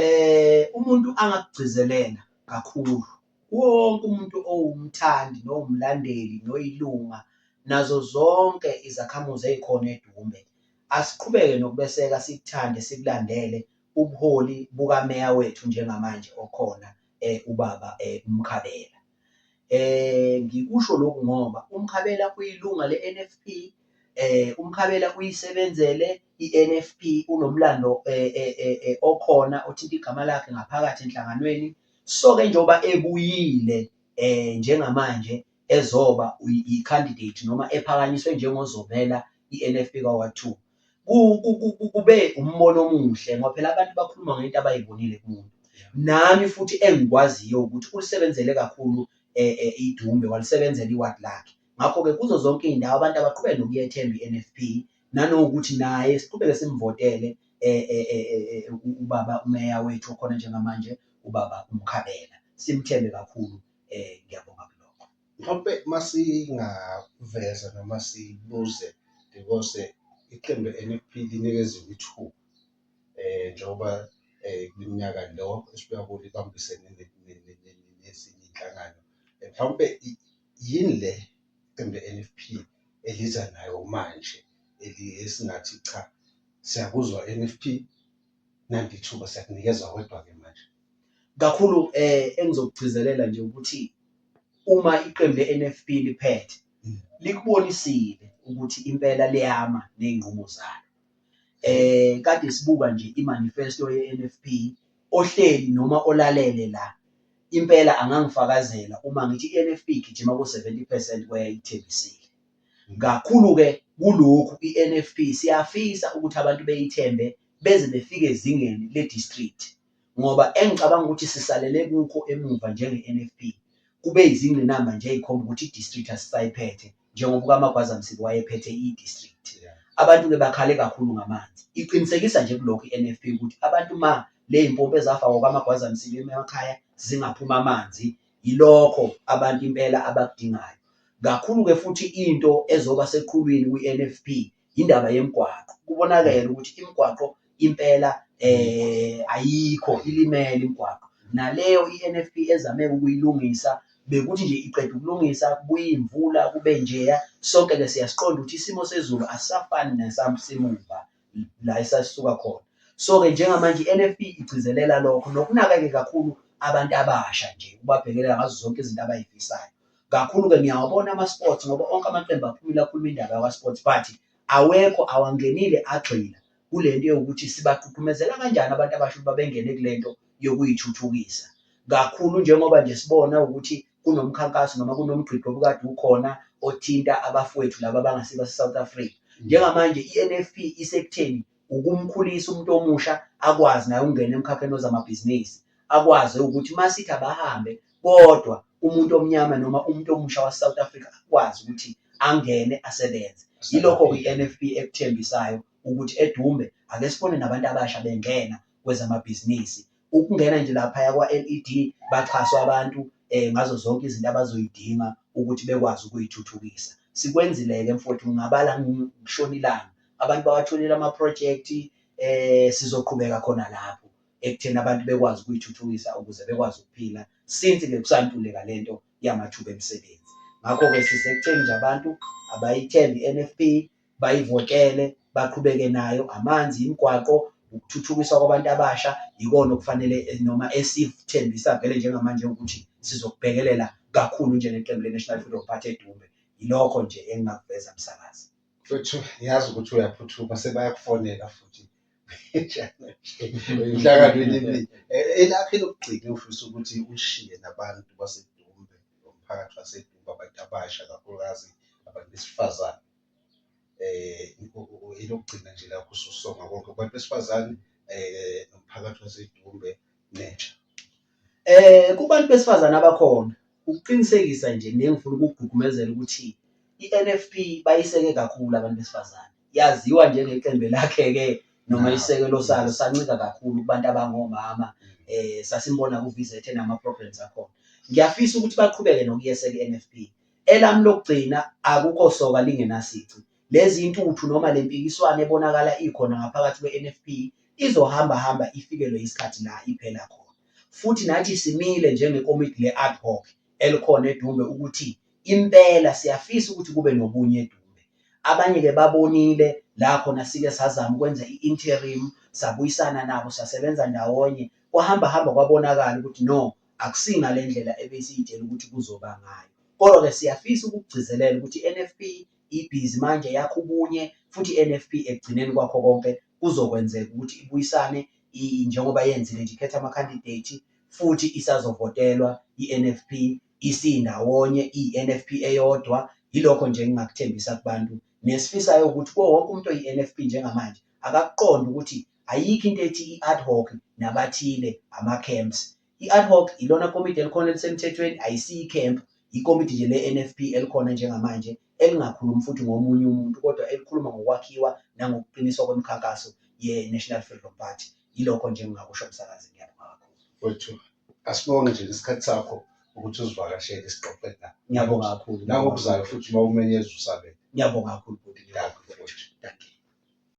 eh umuntu angakugcizelela kakhulu wonke umuntu owumthandi nowumlandeli noyilunga nazo zonke izakhamuzi ezikhona eDumbe asiqhubeke nokubeseka sikuthande sikulandele ubuholi bukameya wethu njengamanje okhona eh ubaba eh uMkhabela. Eh ngikusho lokhu ngoba uMkhabela uyilunga le-NFP eh uMkhabela uyisebenzele i-NFP unomlando eh, eh, eh, eh okhona othinta igama lakhe ngaphakathi enhlanganweni so ke njengoba ebuyile eh njengamanje ezoba i-candidate noma ephakanyiswe njengozovela i-NFP kaWard 2 kube umbono omuhle ngoba phela abantu bakhuluma ngento abayibonile kumuntu nami futhi engikwaziyo ukuthi ulisebenzele kakhulu eh, eh, idumbe walisebenzela iward lakhe ngakho-ke kuzo zonke iy'ndawo abantu abaqhubeke nokuyethemba i-nfp nanokuthi naye siqhubeke simvotele eh, eh, eh, eh, eh, u- ubaba umeya wethu okhona njengamanje ubaba umkhabela simthembe kakhulu um ngiyabonga kulokho Mhlawumpe masingaveza noma sibuze because iqembu NFP linikeziwe ithuba eh njengoba eh kunyaka lo esibuya kulo ibambisene nezinye inhlangano eh, mhlawumbe yini le iqembu le-NFP eliza nayo manje esingathi cha siyakuzwa NFP nanti ithuba siyakunikeza wedwa ke manje Kakhulu eh engizokugcizelela nje ukuthi uma iqembu le-NFP liphethe mm. likubonisile ukuthi impela liyama ney'nqumo zalo. Eh kade sibuka nje imanifesto ye-NFP ohleli noma olalele la impela angangifakazela uma ngithi i-NFP igijima ku-70 percent kweyayithembisile. Mm. Kakhulu-ke kulokhu i-NFP siyafisa ukuthi abantu beyithembe beze befike ezingeni le-district. ngoba engicabanga ukuthi sisalele kukho emuva njenge-NFP kube izingqinamba nje ezikhomba ukuthi i-district asisayiphethe njengoba ukamagwaza Msibi wayephethe i-district abantu-ke bakhale kakhulu ngamanzi iqinisekisa nje kulokhu i-NFP ukuthi abantu ma ley'mpompi ezafakwa kwamagwaza Msibi emakhaya zingaphuma amanzi yilokho abantu impela abakudingayo kakhulu-ke futhi into ezoba seqhulwini kwi-NFP yindaba yemigwaqo kubonakele ukuthi imigwaqo impela eh ayikho ilimele imigwaqo naleyo iNFP ezame ukuyilungisa bekuthi nje iqeda ukulungisa kubuye imvula kube njeya sonke ke siyasiqonda ukuthi isimo sezulu asafani nesamsimuva la esasuka khona so ke njengamanje iNFP igcizelela lokho nokunaka ke kakhulu abantu abasha nje ubabhekelela ngazo zonke izinto abayifisayo kakhulu-ke ngiyawabona ama-sports ngoba onke amaqembu aphumile akhuluma indaba yakwa-sports but awekho awangenile agxila kule nto yokuthi sibagqugqumezela kanjani abantu abasho ukuba bengene kule nto yokuyithuthukisa kakhulu njengoba nje sibona ukuthi kunomkhankaso noma kunomgqigqo obukade ukhona othinta abafowethu laba abangasibase-south africa njengamanje i-n f p isekutheni ukumkhulisa umuntu omusha akwazi naye ukungena emkhakheni wezamabhizinisi akwazi ukuthi uma sithi abahambe kodwa umuntu omnyama noma umuntu omusha wase-south africa akwazi ukuthi angene asebenze yilokho kwi-nfp ekuthembisayo ukuthi edumbe ake sibone nabantu abasha bengena kwezamabhizinisi Ukungena nje laphaya kwa-LED baxhaswa abantu um ngazo zonke izinto abazoyidinga ukuthi bekwazi ukuyithuthukisa. Sikwenzile-ke mfowethu ngingabala ngishona ilanga. Abantu bawatholile amaphrojekthi um sizoqhubeka khona lapho ekutheni abantu bekwazi ukuyithuthukisa ukuze bekwazi ukuphila since-ke kusantuleka le nto yamathuba emisebenzi. Ngakho-ke sisekutheni nje abantu abayithembe i-N_F_P bayivotele baqhubeke nayo amanzi imigwaqo ukuthuthukiswa kwabantu abasha yikona okufanele eh, noma esithembisa vele njengamanje ukuthi sizokubhekelela kakhulu njengeqembu le-national freedom party edumbe yilokho nje engingakuveza msakazi mfethu yazi ukuthi uyaphuthuma sebayakufonela futhi emhlanganweni emini Eh, elakhe lokugcina ufisa ukuthi ushiye nabantu basedumbe nomphakathi wasedumbe abantu abasha kakhulukazi abantu besifazane um elokugcina nje lapho ususonga konke kubantu besifazane um nomphakathi wasedumbe nentsha Eh kubantu besifazane abakhona ukuqinisekisa nje nengifuna ukugqugqumezela ukuthi i-NFP bayiseke kakhulu abantu besifazane. Yaziwa njengeqembu elakheke noma isekelo salo sancika kakhulu kubantu abangomama eh sasimbona ku-VZ enama-programs akhona. Ngiyafisa ukuthi baqhubeke nokuyeseka i-NFP Elami lokugcina akukho soka lingenasici. Lezi intuthu noma le mpikiswano ebonakala ikhona ngaphakathi kweNFP izohamba hamba ifikelwe yisikhathi la iphela khona. Futhi nathi simile njengekomidi le-ad hoc elikhona eDumbe ukuthi impela siyafisa ukuthi kube nobunye eDumbe. Abanye ke babonile la khona sike sazama ukwenza i-interim, sabuyisana nabo sasebenza ndawonye, kwahamba hamba kwabonakala ukuthi no Akusingale ndlela ebesiyitshela ukuthi kuzoba ngayo. Kodwa ke siyafisa ukukugcizelela ukuthi iNFP ibhizi manje yakha ubunye futhi iNFP ekugcineni kwakho konke kuzokwenzeka ukuthi ibuyisane njengoba yenzile nje ikhetha amakhandidate futhi isazovotelwa iNFP isindawonye iNFP eyodwa yilokho nje engingakuthembisa kubantu nesifisayo ukuthi kuwo wonke umuntu oyiNFP njengamanje akakuqonde ukuthi Ayikho into ethi i-ad hoc nabathile ama-camps. I-ad hoc ilona komiti elikhona elisemthethweni, ayisiyo i-camp, yikomiti nje le-NFP elikhona njengamanje elingakhulumi futhi ngomunye umuntu kodwa elikhuluma ngokwakhiwa nangokuqiniswa kwemikhankaso ye-National Freedom Party. Yilokho nje engingakusho msakazi, ngiyabonga kakhulu. Wethu, asibonge nje ngesikhathi sakho ukuthi uzivakashele sixoxe nawe. Ngiyabonga kakhulu. Nangokuzayo futhi uma umenyeza usabele. Ngiyabonga kakhulu bhuti. Dankie, bhuti. Dankie.